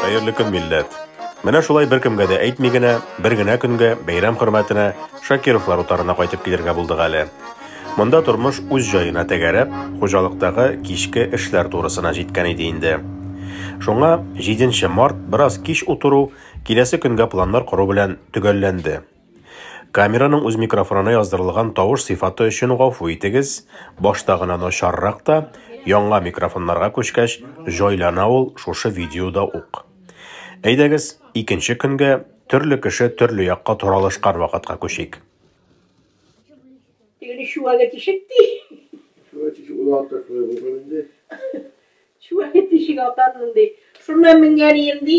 Хәерле көн, милләт! Менә шулай беркемгә дә әйтми генә, бер генә көнгә, бәйрәм хөрмәтенә Шакировлар утарына кайтып килергә булдык әле. Монда тормыш үз җаена тәгәрәп, хуҗалыктагы кичке эшләр турысына җиткән иде инде. Шуңа 7 март бераз кич утыру, киләсе көнгә планнар кору белән төгәлләнде. Камераның үз микрофонына яздырылган тавыш сыйфаты өчен гафу итегез, башта гына начаррак та, яңа микрофоннарга күчкәч, җайлана ул шушы видеода ук. Әйдәгез, икенче көнгә, төрле кеше төрле якка таралышкан вакытка күчик. Теге чуагы тишек ди. Чуагы тишек, ул артык шулай булган инде. Чуагы тишек атанмын ди. Шуннан менгән ием ди.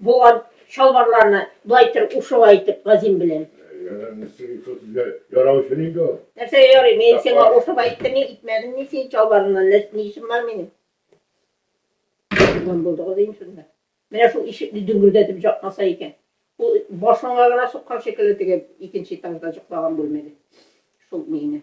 Булган чалбарларны болай итер ушуга итеп газим белән. Ярау өчен инде ул. Нәрсәгә ярый? Мин сиңа ушып әйттемме, итмәдемме син чалбарыңнан? Нәрсә ни эшем бар минем? Булган булдыгыз инде шунда. Менә шул ишекне дөңгердәтеп жапмаса икән. Ул башыңа гына суккан шикелле теге икенче этажда җоклаган бүлмәдә. Шул миңне.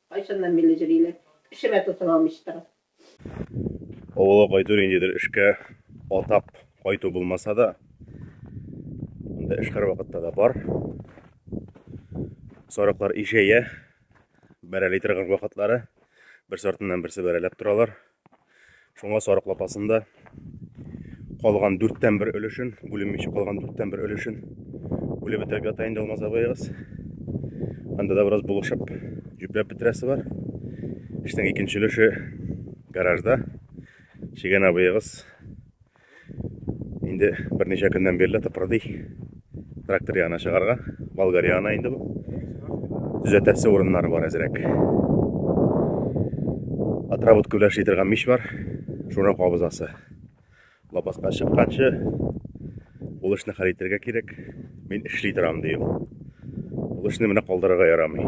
Кайчаннан бирле җыри әле? Эшемә тотына алмыйча торам. Авылга кайту ниндидер эшкә атап кайту булмаса да, анда эш һәрвакытта да бар. Сарыклар ишәя, бәрәли торган вакытлары бер сортыннан берсе бәрәләп торалар. Шуңа сарык лапасында калган дүрттән бер өлешен, бүленмичә калган дүрттән бер өлешен бүлеп бетереп ята инде Алмаз абыегыз. Анда да бераз булышып, җөпләп бетерәсе бар. Эшнең икенче өлеше гаражда. Чигән абыегыз Инде берничә көннән бирле тыпырдый. Трактор ягына чыгарга. Болгар ягына инде бу. Төзәтәсе урыннары бар әзрәк. Отработка белән эшли торган мич бар. Шуны кабызасы. Лапаска чыкканчы ул эшне хәл итәргә кирәк. Мин эшли торам, ди ул. Ул эшне менә калдырырга ярамый.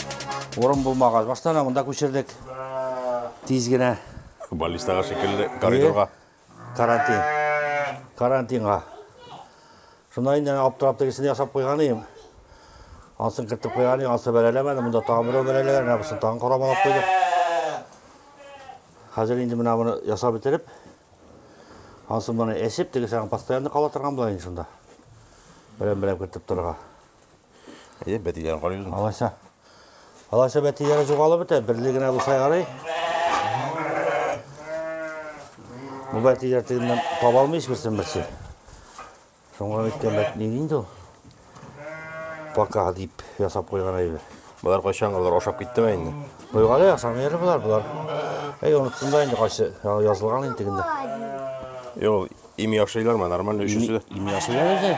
Урын булмагач, башта менә монда күчердек. Тиз генә. Баллистага шикелле коридорга. Карантин. Карантинга. Шунда инде аптырап тегесен ясап куйган идем. Асын кертеп куйган идем, асы бәрәләмәде. Монда тагын берәү бәрәләгән, менә бусын тагын карамалап куйдык. Хәзер инде менә моны ясап бетереп, асын моны әсеп, тегесен постоянно кала торган була инде шунда. Берәм-берәм кертеп торырга. Әйе, бәтиләрен карый үзем. Алайса. Алайса бәтиләре жоғалып бетә, берле генә булса ярый. Бу бәтиләр тегеннән таба алмый һичберсен берсе. Соңга әйткән бәт ни инде ул? Пока дип ясап куйган әйбер. Болар кайчан алар ашап киттеме инде? Буйгалы ясам ери болар болар. Әй, оныттым да инде кайсы язылган инде тегендә. Юк, ими ашыйлармы, нормально өчесе. Ими ашыйлар үзе.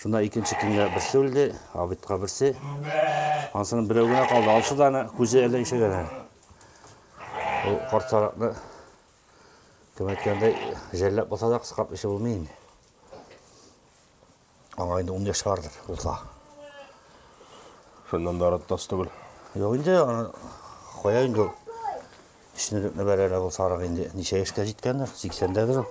Шунда икенче киңгә берсе үлде, абитка берсе. Ансының берәү генә калды. Алсы да аны күзе әллә ишәгән әле. Ул карт сарыкны кем әйткәндәй жәлләп булса да кыскап эше булмый инде. Аңа инде ун яшь бардыр, булса. Шуннан да арыттас түгел. Юк инде, аны кая инде ул. Эшне бәрәлә ул сарык инде. Ничә яшькә җиткәндер, сиксәндәдер ул.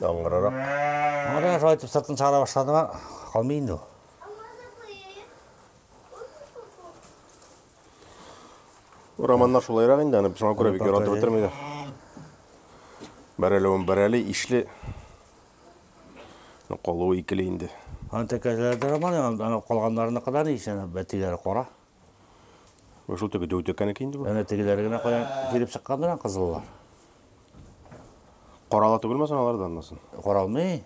Яңгырарак. Ана шулай итеп сыртын чыгара башлады ма, калмый инде ул. Романнар шулайрак инде, аны шуңа күрә бик яратып бетермиләр. Бәрәләвен бәрәли, ишле. Калуы икеле инде. Аны тәкәләрдә роман, ана калганнарына кадәр ишән бәтиләре кара. Менә шул теге дәү тәкәнеке инде бу. Әнә тегеләре генә каян килеп чыккандыр ан кызыллар. Карала түгелме соң алар да аннасын? Каралмый.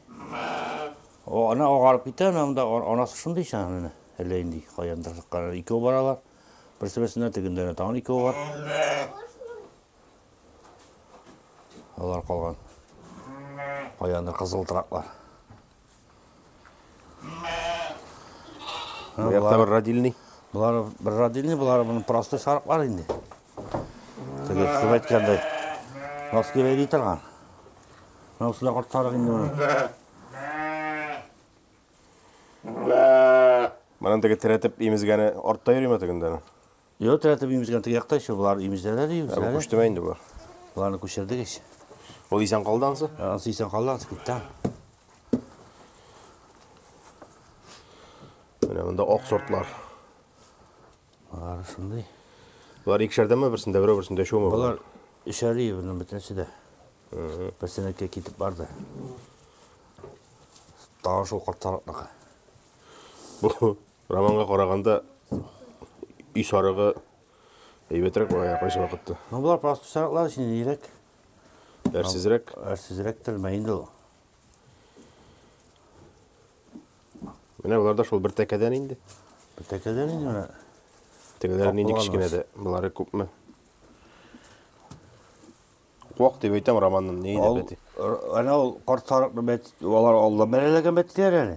О, ана агарып китә, ана монда а- анасы шундый икән аны. Әллә инде каяндыр чыккан. Икәү баралар. Берсе-берсенә тегендә әнә тагын икәү бар. Алар калган. Каяндыр кызыл тыраклар. Бу якта бер родильный. Болар бер родильный, болар моның простой сарыклар инде. Теге кем әйткәндәй. Носки бәйли торган. Менә усында корт сарык инде моның. Моның теге терәтеп имезгәне артта йөриме тегендә? Йо, тәтеп имезгән теге якта еще болар имезләр әле Ә бу күчтеме инде бу? Боларны күчердек ич. Ул исән калды ансы? Ансы исән калды, ансы китте. Менә монда ак сортлар. Алар шундый. Болар икешәрдәме берсендә, берәү берсендә шуымы? Болар өшәри буның бөтенесе дә. Берсенеке китеп барды. Тагы шул карталыкныкы. Бу Романга караганда өй сарыгы әйбәтрәк була кайсы вакытта. Ну болар просто сарыклар өчен ирек. Әрсезрәк. Әрсезрәк тәлмә инде ул. Менә болар да шул бер тәкәдән инде. Бер тәкәдән инде менә. Тегеләр нинди кечкенә дә, болары күпме? Куак дип әйтәм романның нәйдә бәти. Ана ул карт сарыкны бәт, алар алда бәрәләгән бәтләр әле.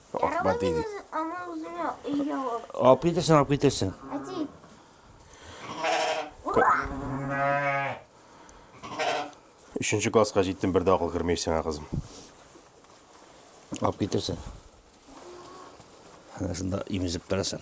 Акбар диде. Аны үзеңә өйгә ал. Алып китерсең, алып китерсең. Әти. Өченче класска җиттем, бер дә акыл кермәй сиңа, кызым. Алып китерсең. Ана шунда имезеп торасың.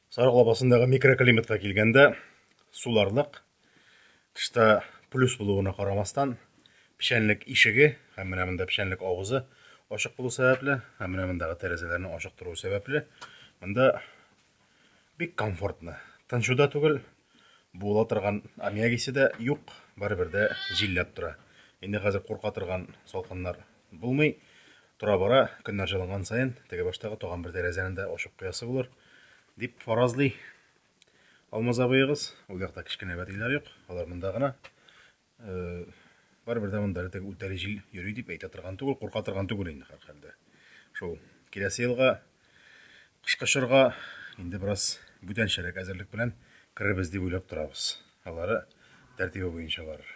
Сарык лабасындагы микроклиматка килгәндә, суларлык, тышта плюс булуына карамастан, печәнлек ишеге һәм менә монда печәнлек авызы ачык булу сәбәпле, һәм менә мондагы тәрәзәләрне ачык тору сәбәпле, монда бик комфортно. Тынчуда түгел, Буыла торган аммиак исе дә юк, барыбер дә җилләп тора. Инде хәзер курка торган салкыннар булмый. Тора-бара, көннәр җылынган саен, теге баштагы тагын бер тәрәзәне дә ачып куясы булыр, дип фаразлый Алмаз абыегыз. Ул якта кечкенә бәтиләр юк, алар монда гына. Барыбер дә монда әле үтәле җил йөри дип әйтә торган түгел, курка торган түгел инде һәрхәлдә. Шул киләсе елга кышкы чорга инде бераз бүтәнчәрәк әзерлек белән керербез дип уйлап торабыз. Алары тәртибе буенча барыр.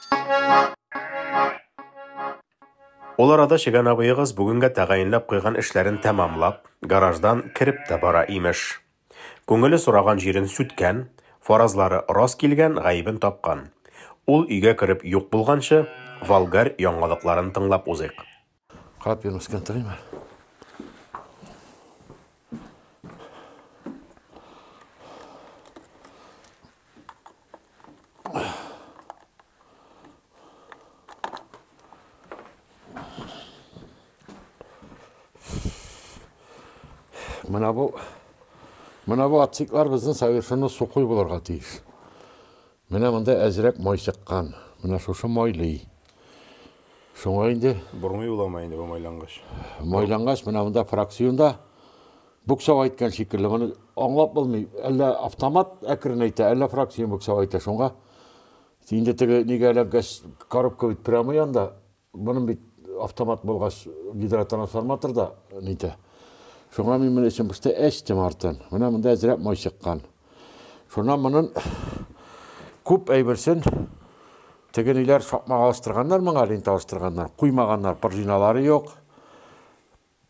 Ул арада Чегән абыегыз бүгенгә тәгаенләп куйган эшләрен тәмамлап, гараждан кереп тә бара, имеш. Күңеле сораган җирен сүткән, фаразлары рас килгән, гаебен тапкан. Ул өйгә кереп юк булганчы, Волгарь яңалыкларын тыңлап узыйк. Капи мескен тыйма. Мына бу мына бу отсеклар безнең совершенно сухой булырга тиеш. Менә монда әзрәк май чыккан. Менә шушы майлый. Шуңа инде. Бормый буламы инде бу майлангач? Майлангач, менә монда фракциунда буксау әйткән шикелле. Моны аңлап булмый. Әллә автомат әкрен әйтә, әллә фракциун буксау әйтә. Шуңа инде теге нигә эләккәч, коробка бит прямый анда. Моның бит автомат булгач, гидротрансформатор да нитә. Шуңа мин моны эчем пошты, әчтем артын. Менә монда әзрәк май чыккан. Шуннан монын күп әйберсен тегениләр шакмага алыштырганнар моңа, лента алыштырганнар, куймаганнар, пружиналары юк.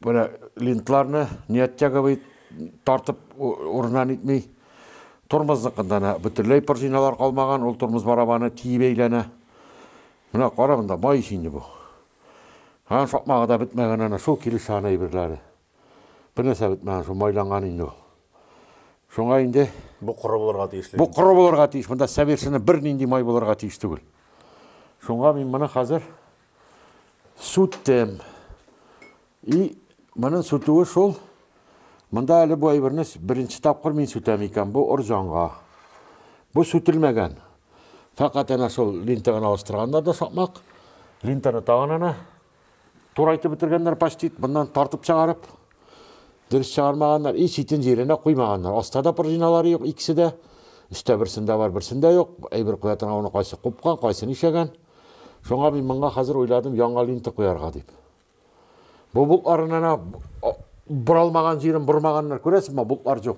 Менә линтларны не оттягивай, тартып урыннан итми. Тормозныкында әнә бөтенләй пружиналар калмаган, ул тормоз барабаны тиеп әйләнә. Менә кара монда май ич инде бу. Һәм сакмагы да бетмәгән әнә шул килешә аны әйберләре. Бернәрсә бетмәгән, шул майланган инде ул. Шуңа инде бу коры булырга тиеш. Бу коры булырга тиеш, монда совершенно бернинди май булырга тиеш түгел. Шуңа мин моны хәзер Сүттем. И, моның сүтүе шул. Монда әле бу әйберне беренче тапкыр мин сүтәм икән, бу орҗанга. Бу сүтелмәгән. Фәкать әнә шул линта гына алыштырганнар да сакмак. Линтаны тагын әнә турайтып бетергәннәр почти, моннан тартып чыгарып. Дөрес чыгармаганнар, и читен җиренә куймаганнар. Аста да пружиналары юк, икесе дә. Өстә берсендә бар, берсендә юк. Әйбер куя торган уны кайсы купкан, кайсы нишәгән. Шуңа мин моңа хәзер уйладым яңа линта куярга дип. Бу болтларыннан боралмаган җирен бормаганнар, күрәсезме, болтлар юк.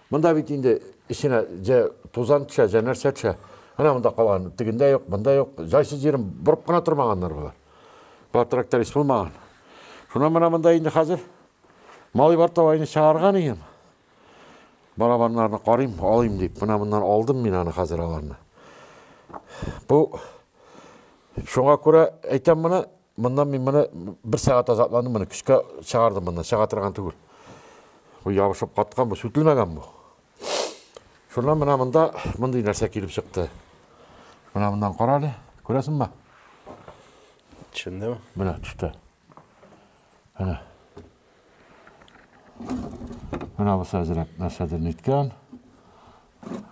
Монда бит инде эченә җә тузан төшә, җә нәрсә төшә. Менә монда калган, тегендә юк, монда юк. Җайсыз җирен борып кына тормаганнар болар. Бар тракторист булмаган. Шуннан менә монда инде хәзер малый бар тавайны чыгарган ием. Барабаннарны карыйм, алыйм дип, менә моннан алдым мин аны хәзер аларны. Бу шуңа күрә әйтәм моны, моннан мин моны бер сәгать азапландым, моны көчкә чыгардым моннан, чыга торган түгел. Бу ябышып каткан, бу сүтелмәгән бу. Шуннан менә монда мондый нәрсә килеп чыкты. Менә моннан кара әле, күрәсеңме? Төшендем. Менә төште. Әнә. Әнә бусы әзрәк нәрсәдер ниткән.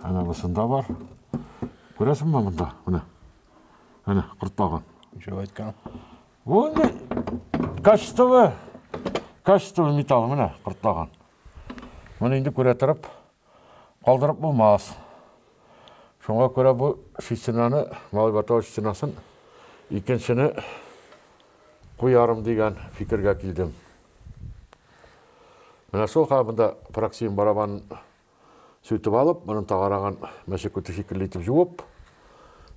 Әнә бусында бар. Күрәсеңме монда? Менә. Әнә кортлага. Ничек әйткән? Бу инде качестволы, качестволы металл менә кортлага. Моны инде күрә торып, Калдырып булмас. Шуңа күрә бу стенаны, Малай Батавыч стенасын, икенчене куярым дигән фикергә килдем. Менә шул хәл монда проксием барабанын сүтеп алып, моның тагарагын мәче күте шикелле итеп җуып,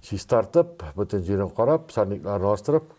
чистартып, бөтен җирен карап, сорнякларын алыштырып,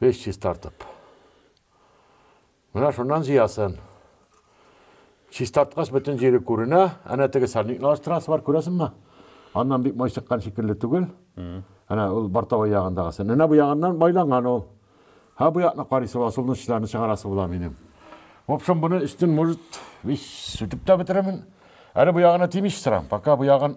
Беш чистартып. Менә шуннан җыясын. Чистарткач бөтен җире күренә. Әнә теге сальникны алыштырасы бар, күрәсеңме? Аннан бик май чыккан шикелле түгел. Әнә ул бортовой ягындагысы. Менә бу ягыннан майланган ул. Һә бу якны карыйсы була, сулны чыдарны чыгарасы була минем. В общем, буны өстен, может, весь сүтеп тә бетерермен. Әле бу ягына тимичә торам, пока бу ягын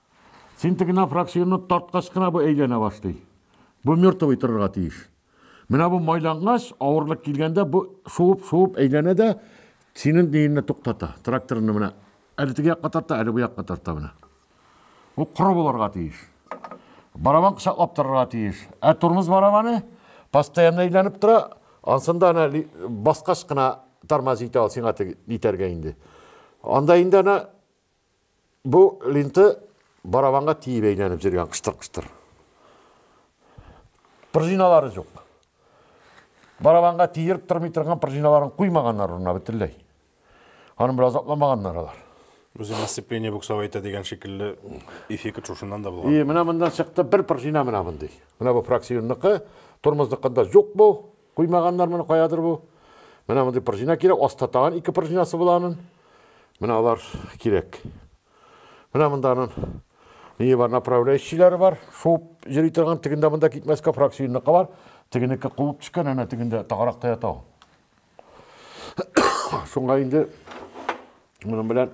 Син теге нафраксинны тарткач кына бу әйләнә башлый. Бу мертвый торырга тиеш. Менә бу майлангач, авырлык килгәндә бу шуып-шуып әйләнә дә синең өеңне туктата. Тракторны менә әле теге якка тарта, әле бу якка тарта менә. Бу коры булырга тиеш. Барабан кочаклап торырга тиеш. Ә тормоз барабаны постоянно әйләнеп тора. Ансында ана баскач кына тормоз итә ул сиңа итәргә инде. Анда инде ана Бу линты барабанга тиеп әйләнеп җөргән кыштыр-кыштыр. Пружиналары җук. Барабанга тиеп тормый торган пружиналарын куймаганнар урынына бөтенләй. Аны бер азапламаганнар алар. Үзе дисциплине буксау әйтә дигән шикелле эффект шушыннан да булган. И, менә моннан чыкты бер пружина менә мондый. Менә бу фракционныкы, тормозныкында җук бу. Куймаганнар моны каядыр бу. Менә мондый пружина кирәк, аста тагын ике пружинасы була анын. Менә алар кирәк. Менә монда анын ние бар, направляющийләре бар. Шуып йөри торган, тегендә монда китмәскә фракциюнныкы бар. Тегенеке кубып төшкән, әнә тегендә тагаракта ята ул. Шуңа инде моның белән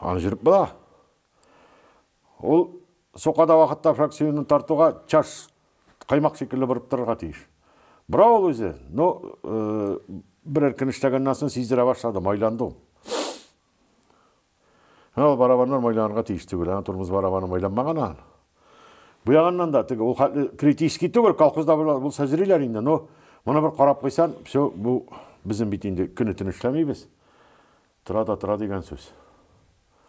Аны жүріп була. Ул соқада вакытта фракцияне тартуга чаш каймак шикелле борып торырга тиеш. Бра ул үзе, но э, берәр көн эшләгәннән соң сиздерә башлады, майланды ул. Ул барабаннар майланырга тиеш түгел, ана тормоз барабаны майланмаган ан. Бу ягыннан да теге ул хәтле критический түгел, колхозда булса зриләр инде, но моны бер карап куйсан, все, бу безнең бит инде көне төн эшләмибез. Тора да тора дигән сүз.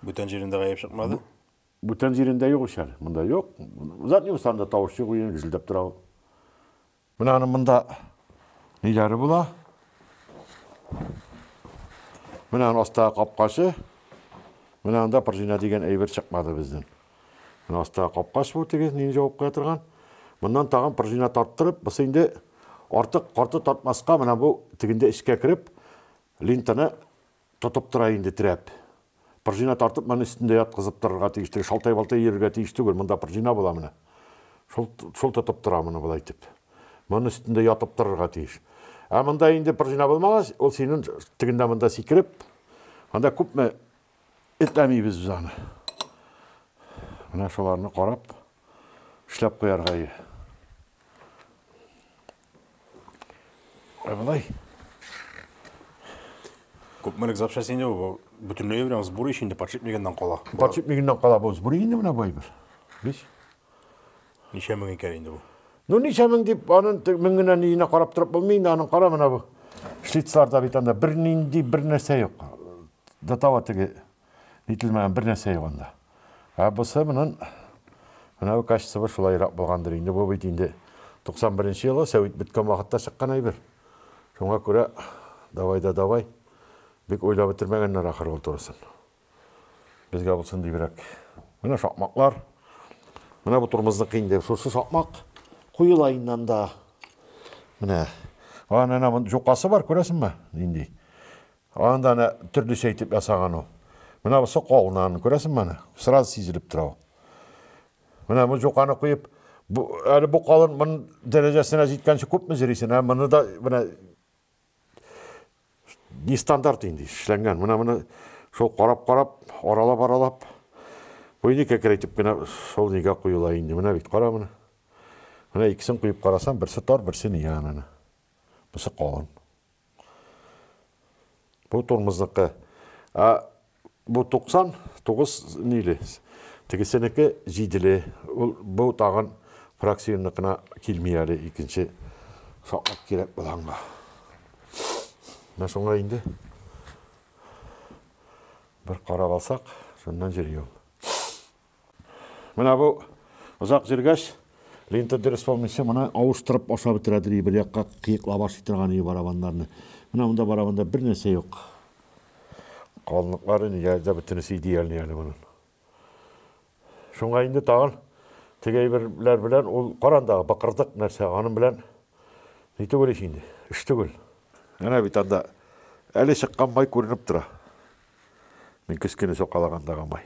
Бүтән җирендә гаеп чыкмады? Бүтән җирендә юк ич әле, монда юк. Задний устанда тавыш юк, уен гүзелдәп тора. Менә аның монда ниләре була. Менә аның астагы капкачы. Менә анда пружина дигән әйбер чыкмады безнең. Менә астагы капкач бу тигез, нин җавап куя торган. Моннан тагын пружина тарттырып, бусы инде артык карты тартмаска, менә бу тигендә эчкә кереп, линтаны Тотып тора инде, терәп. Пржина тартып маны өстендә яткызып торырга тиеш теге, шалтай-балтай йөрергә тиеш түгел, монда пржина була менә. Шул, шул тотып тора моны болай итеп. Маны өстендә ятып торырга тиеш. Ә монда инде пржина булмагач, ул синен тегендә монда сикереп, анда күпме этләмибез без аны. Менә шуларны карап, эшләп куярга иде. Ә болай. Күпмелек запчасть инде бу? Бөтенләй белән сбор ич инде подшипнигыннан кала. Подшипнигыннан кала бу сбор инде менә байбыз. Без. Ничә мең икән инде бу? Ну ничә мең дип, аның мең генә ниенә карап торып булмый инде, аның кара менә бу. Шлицларда бит анда бер нинди бер нәрсә юк. До того теге Нителмәгән бер нәрсә юк анда. Ә бусы монын менә бу качествы шулайрак булгандыр инде. Бу бит инде 91 нче елгы сәвит беткән вакытта чыккан әйбер. Шуңа күрә давай да давай. Бик уйлап бетермәгәннәр ахыр ул турысын. Безгә булсын дибрәк. Менә шакмаклар. Менә бу турымызныкы инде. Шушы шакмак куела инде анда. Менә. Аны ана җукасы бар, күрәсеңме? Нинди. Аны да әнә төрлечә итеп ясаган ул. Менә бу соколнан, күрәсеңме аны? Сразу сизелеп тора ул. Менә бу җуканы куеп, бу әле бу калын мон дәрәҗәсенә җиткәнче күпме җөрисен, ә моны да менә не стандарт инде эшләнгән. Менә моны шул карап-карап, аралап-аралап бу инде кәкрәйтеп кенә шул нигә куела инде. Менә бит кара моны. Менә икесен куеп карасам, берсе тар, берсе ни аны. Бусы калын. Бу тормызныкы. Ә бу 99 ниле? Тегесенеке җиделе. Ул бу тагын фракциянныкына килми әле икенче саклап кирәк булганга. Менә шуңа инде бер карап алсак, шуннан җырием. Менә бу озак җөргәч, лента дөрес булмыйча, моны авыштырып ашап бетерә дери, бер якка кыек лаваш итә торган иде барабаннарны. Менә монда барабанда бер нәрсә юк. Калынлыклары нигә дә бөтенесе идеальный әле моның. Шуңа инде тагын теге әйберләр белән ул карандагы бакырдык нәрсә, аның белән ни түгел ич инде, эш түгел. Әнә бит анда әле чыккан май күренеп тора. Мин кечкенә сукалагандагы май.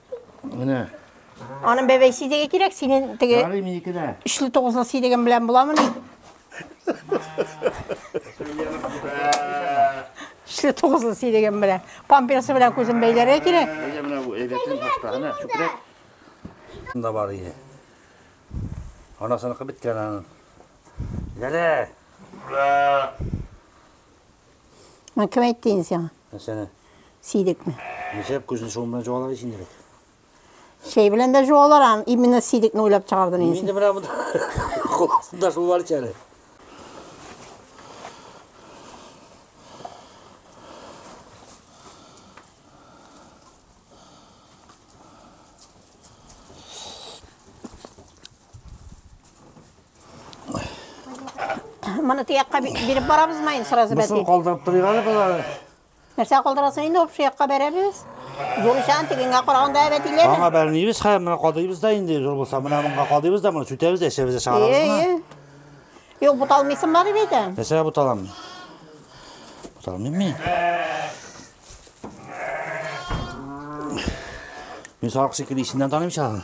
Менә. Аның бәбәй сидеге кирәк, синең теге... Ярый минеке дә. Өчле тугызлы сидеген белән буламы ни? Өчле тугызлы сидеген белән. Памперсы белән күзен бәйләргә кирәк. Әйдә менә бу әйбәтен башта, ана, чүпрәк. Шунда бар иде. Анасыныкы беткән аның. Гәрә! Мә кем әйтте инде сиңа? Әсәне. Сидекме? Ничек күзен шуң белән җуалар ич инде. Шәй белән дә җуалар, ам, именно сидекне уйлап чыгардым инде. Инде менә монда шул бар әле. Моны тиякка биреп барабыз ма инде сразу бәти? Мосын калдырып торыйк әле болары. Нәрсә калдырасың инде общий якка бәрәбез. Зур ишан тегенгә караганда әйбәт иләр. Аңа бәрмибез, хәер менә кадыйбыз да инде зур булса, менә монга кадыйбыз да, моны сүтәбез, әчәбез, чыгарабыз. Әйе. Юк, буталмыйсың бар дип әйтә. Нәрсә буталам? Буталмыйм мин. Мин сарык шикелле исеннән таныйм чагын.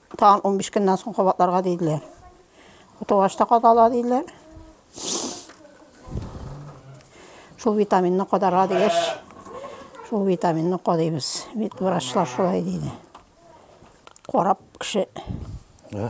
Тагын унбиш көннән соң кабатларга диделәр. Утылгач та кадала диделәр. Шул витаминны кадарга дигәч, шул витаминны кадыйбыз. Бит врачлар шулай диде. Карап кеше. Ә?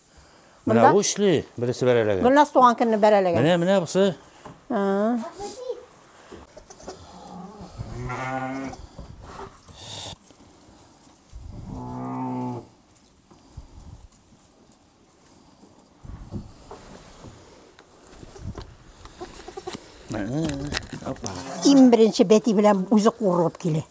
Менә бу эшли, бересе бәрәләгән. Гөлназ туган көнне бәрәләгән. Менә, менә бусы. Иң беренче бәти белән үзе курылып килә.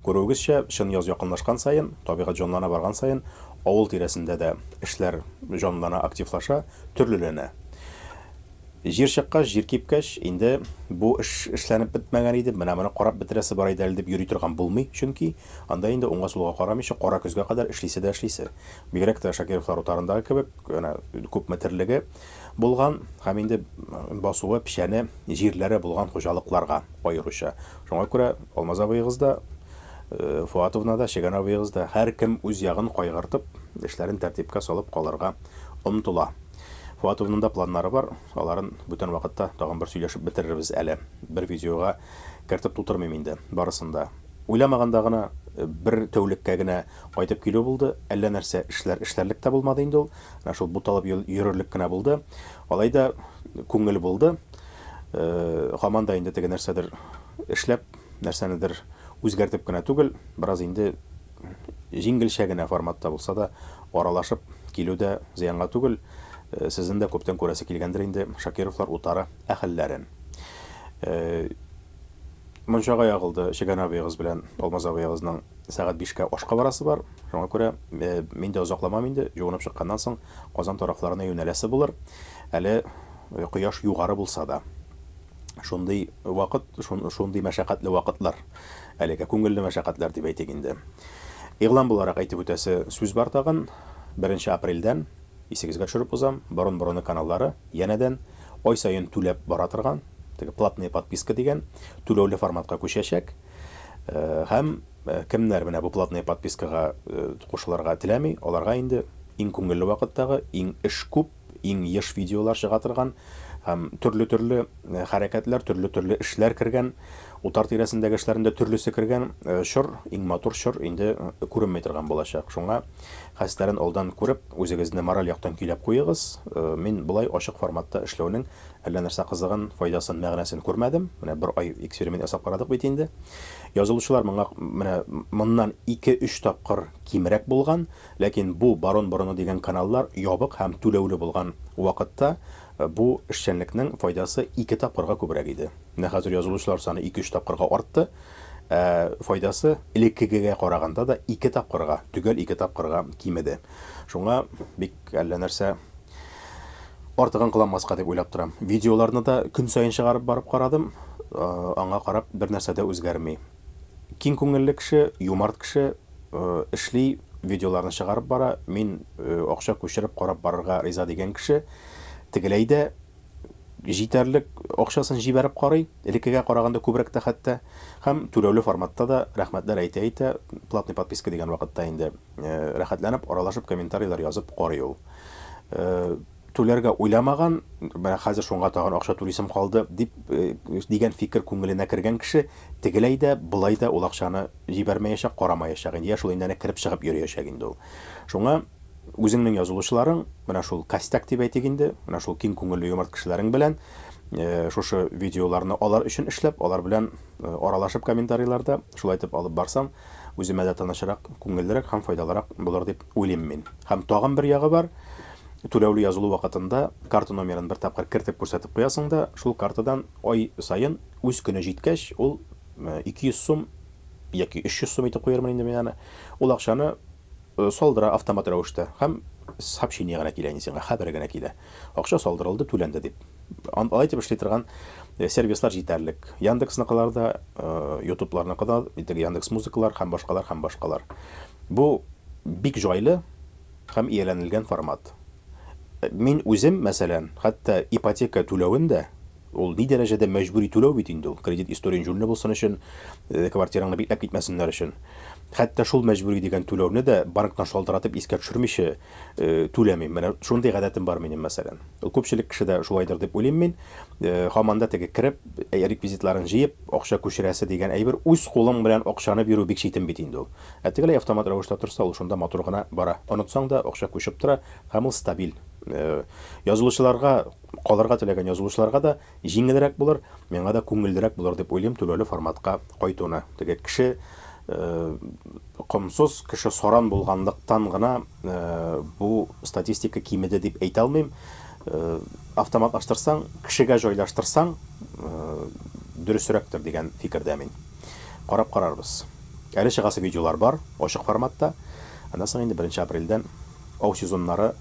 Күрүегезчә, чын яз якынлашкан саен, табигать җанлана барган саен, авыл тирәсендә дә эшләр җанлана, активлаша, төрлеләнә. Җир чыккач, җир кипкәч, инде бу эш эшләнеп бетмәгән иде, менә моны карап бетерәсе бар иде әле дип йөри торган булмый, чөнки анда инде уңга-сулга карамыйча, кара көзгә кадәр эшлисе дә эшлисе. Бигрәк тә Шакировлар утарындагы кебек, әнә күпме терлеге булган һәм инде басуы, печәне, җирләре булган хуҗалыкларга аеруча. Шуңа күрә Алмаз абыегыз да, Фоатовна да, Чегән абыегыз да, һәркем үз ягын кайгыртып, эшләрен тәртипкә салып калырга омтыла. Фоатовның да планнары бар, аларын бүтән вакытта тагын бер сөйләшеп бетерербез әле. Бер видеога кертеп тутырмыйм инде барысын да. Уйламаганда гына бер тәүлеккә генә кайтып килү булды, әллә нәрсә эшләр эшләрлек тә булмады инде ул, менә шул буталып йөрерлек кенә булды. Алай да күңел булды. Һаман да инде теге нәрсәдер эшләп, нәрсәнедер үзгәртеп кенә түгел, бераз инде Җиңелчә генә форматта булса да, аралашып килү дә зыянга түгел. Сезнең дә күптән күрәсе килгәндер инде Шакировлар утары әһелләрен. Мунчага ягылды, Чегән абыегыз белән Алмаз абыегызның сәгать бишкә ашка барасы бар. Шуңа күрә мин дә озакламам инде, җуынып чыкканнан соң Казан тарафларына юнәләсе булыр. Әле кояш югары булса да. Шундый вакыт, шундый мәшәкатьле вакытлар. Әлегә күңелле мәшәкатьләр дип әйтик инде. Игълан буларак әйтеп үтәсе сүз бар тагын, беренче апрельдән, исегезгә төшереп узам, борын-борыны каналлары янәдән ай саен түләп бара торган, теге платные подписка дигән, түләүле форматка күчәчәк. Һәм кемнәр менә бу платные подпискага кушылырга теләми, аларга инде иң күңелле вакыттагы, иң эш күп, иң еш видеолар чыга торган һәм төрле-төрле хәрәкәтләр, төрле-төрле эшләр кергән, утар тирәсендәге эшләрендә төрлесе кергән чор, иң матур чор инде күренми торган булачак. Шуңа хәстәрен алдан күреп, үзегезне мораль яктан көйләп куегыз. Мин болай ачык форматта эшләүнең әллә нәрсә кызыгын, файдасын, мәгънәсен күрмәдем. Менә бер ай эксперимент ясап карадык бит инде. Язылучылар моңа менә моннан ике-өч тапкыр кимрәк булган. Ләкин бу Барон борыны дигән каналлар ябык һәм түләүле булган вакытта бу эшчәнлекнең файдасы ике тапкырга күбрәк иде. Менә хәзер язылучылар саны ике-өч тапкырга артты, ә файдасы элеккегегә караганда да ике тапкырга, төгәл ике тапкырга кимеде. Шуңа бик әллә нәрсә артыгын кыланмаска дип уйлап торам. Видеоларны да көн саен чыгарып барып карадым, аңа карап бернәрсә дә үзгәрми. Киң күңелле кеше, юмарт кеше, эшли, видеоларны чыгарып бара, мин акча күчереп карап барырга риза дигән кеше. Тегеләй дә җитәрлек акчасын җибәреп карый, элеккегә караганда күбрәк тә хәтта. Һәм түләүле форматта да рәхмәтләр әйтә-әйтә, платный подписка дигән вакытта инде рәхәтләнеп, аралашып, комментарийлар язып карый ул. Түләргә уйламаган, менә хәзер шуңа тагын акча түлисем калды, дип, дигән фикер күңеленә кергән кеше, тегеләй дә, болай да ул акчаны җибәрмәячәк, карамаячак инде, йә шул инде әнә кереп-чыгып йөриячәк инде ул. Шуңа үзеңнең язылучыларың, менә шул костяк дип әйтик инде, менә шул киң күңелле юмарт кешеләрең белән шушы видеоларны алар өчен эшләп, алар белән аралашып комментарийларда, шулай итеп алып барсаң, үземә дә тынычрак, күңеллерәк һәм файдалырак булыр дип Уйлыйм мин. Һәм тагын бер ягы бар, түләүле язылу вакытында карта номерын бер тапкыр кертеп күрсәтеп куясың да, шул картадан ай саен, үз көне җиткәч, ул 200 сум яки 300 сум итеп куярмын инде мин аны, ул акчаны салдыра автомат рәвештә һәм сообщение генә килә инде сиңа, хәбәр генә килә. Акча салдырылды, түләнде дип. Алай дип эшли торган сервислар җитәрлек. Яндексныкылар да, Ютубларныкы да, теге Яндекс.Музыкалар һәм башкалар һәм башкалар. Бу бик җайлы һәм ияләнелгән формат. Мин үзем, мәсәлән, хәтта ипотека түләвен дә, Ул ни дәрәҗәдә мәҗбүри түләү бит инде ул, кредит историен җүнле булсын өчен, квартираңны бикләп китмәсеннәр өчен. Хәтта шул мәҗбүри дигән түләүне дә банктан шалтыратып искә төшермичә түләмим. Менә шундый гадәтем бар минем, мәсәлән. Ул күпчелек кешедә шулайдыр дип уйлыйм мин. Һаман да теге кереп, реквизитларын җыеп, акча күчерәсе дигән әйбер, үз кулың белән акчаны бирү бик читен бит инде ул. Ә тегеләй автомат рәвештә торса, ул шунда матур гына бара. Онытсаң да, акча күчеп тора һәм ул стабиль. Язылучыларга. Калырга теләгән язылучыларга да җиңелрәк булыр, миңа да күңеллерәк булыр дип уйлыйм түбәле форматка кайтуны. Теге кеше комсыз, кеше саран булганлыктан гына бу статистика кимеде дип әйтә алмыйм. Автоматлаштырсаң, кешегә җайлаштырсаң, дөресрәктер дигән фикердә мин. Карап карарбыз. Әле чыгасы видеолар бар, ачык форматта. Аннан соң инде беренче апрельдән Ау сезоннары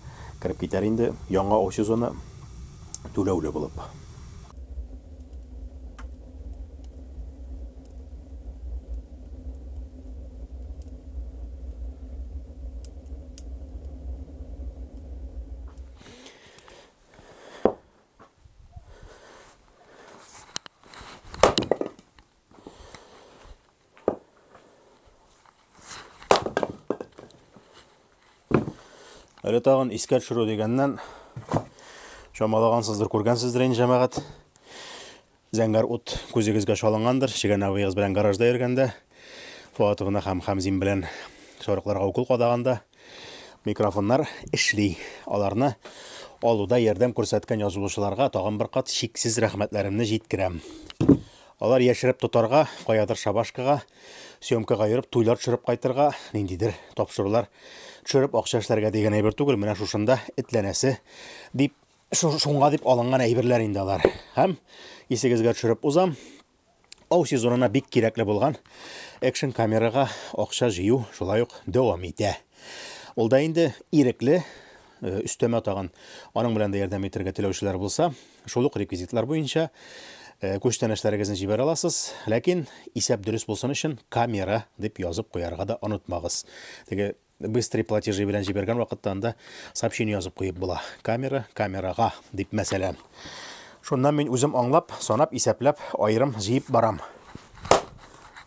кереп китәр инде. Яңа ау сезоны түләүле булып. Әле тагын искә төшерү дигәннән чамалагансыздыр, күргәнсездер инде җәмәгать. Зәңгәр ут күзегезгә чалынгандыр, чигәнәвегез белән гаражда йөргәндә, Фуатовна һәм Хамзин белән сарыкларга укол кадаганда микрофоннар эшли. Аларны алуда ярдәм күрсәткән язылучыларга тагын бер кат чиксез рәхмәтләремне җиткерәм. Алар яшереп тотарга, каядыр шабашкага, съемкага йөреп, туйлар төшереп кайтырга, ниндидер тапшырулар төшереп акча эшләргә дигән әйбер түгел, менә шушында этләнәсе дип, шуңа дип алынган әйберләр инде алар. Һәм исегезгә төшереп узам, ау сезонына бик кирәкле булган экшн камерага акча җыю шулай ук дәвам итә. Ул да инде ирекле, э, өстәмә тагын аның белән дә ярдәм итәргә теләүчеләр булса, Шул ук реквизитлар буенча күчтәнәчләрегезне җибәрә аласыз. Ләкин исәп дөрес булсын өчен камера дип язып куярга да онытмагыз. Теге быстрый платежи белән җибәргән вакытта анда сообщение язып куеп була. Камера, камерага дип мәсәлән. Шуннан мин үзем аңлап, санап, исәпләп, аерым җыеп барам.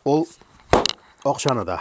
Ул акчаны да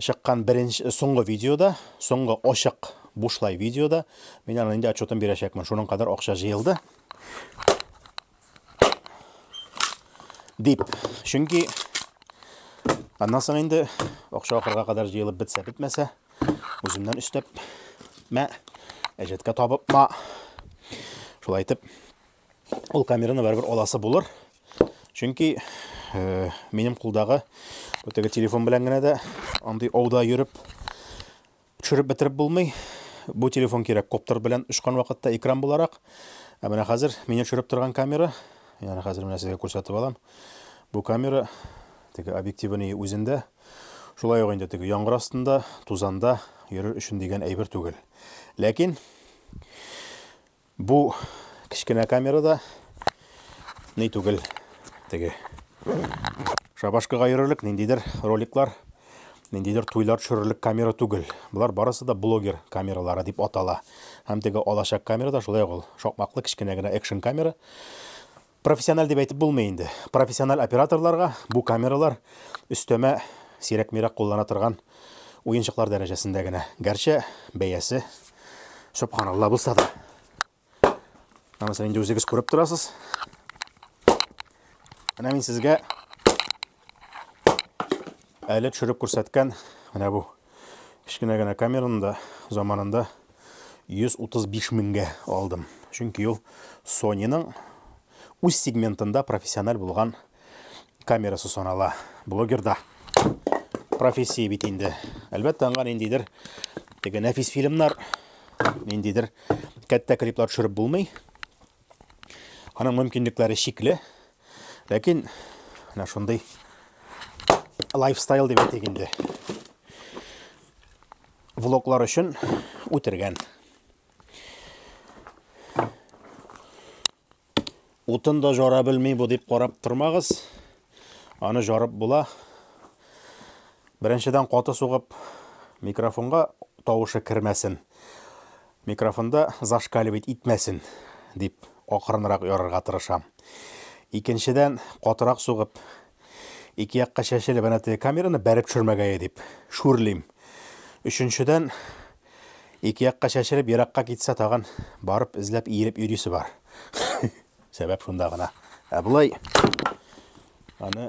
чыккан беренче соңгы видеода, соңгы ачык бушлай видеода мин аны инде отчетын бирәчәкмен. Шуның кадәр акча җыелды. Дип. Чөнки аннан соң инде акча ахырга кадәр җыелып бетсә бетмәсә, үземнән өстәп мә әҗәткә табып ма. Шулай итеп ул камераны барыбер аласы булыр. Чөнки э, минем кулдагы теге телефон белән генә дә андый ауда йөреп төшереп бетереп булмый. Бу телефон кирәк коптер белән очкан вакытта экран буларак. Ә менә хәзер мине төшереп торган камера, ягъни хәзер менә сезгә күрсәтеп алам. Бу камера теге объективының үзендә шулай ук инде теге яңгыр астында, тузанда йөрер өчен дигән әйбер түгел. Ләкин Бу кечкенә камера да ни түгел. Теге шабашкага йөрерлек ниндидер роликлар, ниндидер туйлар төшерерлек камера түгел. Болар барысы да блогер камералары дип атала. Һәм теге алачак камера да шулай ук ул шакмаклы кечкенә генә экшн камера. Профессиональ дип әйтеп булмый инде. Профессиональ операторларга бу камералар өстәмә сирәк-мирәк куллана торган уенчыклар дәрәҗәсендә генә. Гәрчә бәясе субханалла булса да. Менә мәсәлән, инде үзегез күреп торасыз. Менә мин сезгә Әле төшереп күрсәткән менә бу кечкенә генә камераны да заманында 135 меңгә алдым. Чөнки ул Sony-ның үз сегментында профессиональ булган камерасы санала. Блогерда профессия бит инде. Әлбәттә, аңа ниндидер теге нәфис фильмнар, ниндидер кәттә клиплар төшереп булмый. Аның мөмкинлекләре чикле, ләкин менә шундый лайфстайл дип әйтик инде. Влоглар өчен үтергән. Утын да жара белми бу дип карап тормагыз. Аны жарып була. Беренчедән каты сугып микрофонга тавышы кермәсен. Микрофонда зашкаливать итмәсен дип акрынрак ярырга тырышам. Икенчедән, катырак сугып, ике якка чәчелеп әнә теге камераны бәреп төшермәгәе дип шүрлим. Өченчедән, ике якка чәчелеп еракка китсә тагын барып эзләп иелеп йөрисе бар. Сәбәп шунда гына. Ә болай аны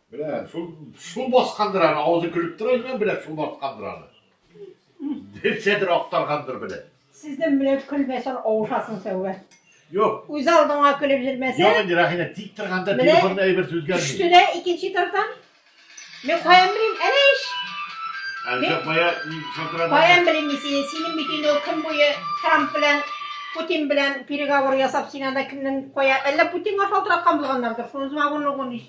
Белә, шул су баскандыр аны, авызы көлеп тора икән, белә, су баскандыр аны. Берсәдер актаргандыр белә. Сезнең белән көлмәсәң авышасың сәүбә. Юк. Үз алдыңа көлеп йөрмәсәң. Юк инде Рәхинә тик торганда телефонда әйбер сүзгәрми. Төште дә икенче тардан. Мин каян белим, әнә ич. Әлбә кая мин шалтырадым. Каян белим мин сине, синең бит инде көн буе Трамп белән Путин белән переговор ясап, син анда кемнең кая, әллә Путинга шалтыраткан булганнардыр, шуны змагун угун ич.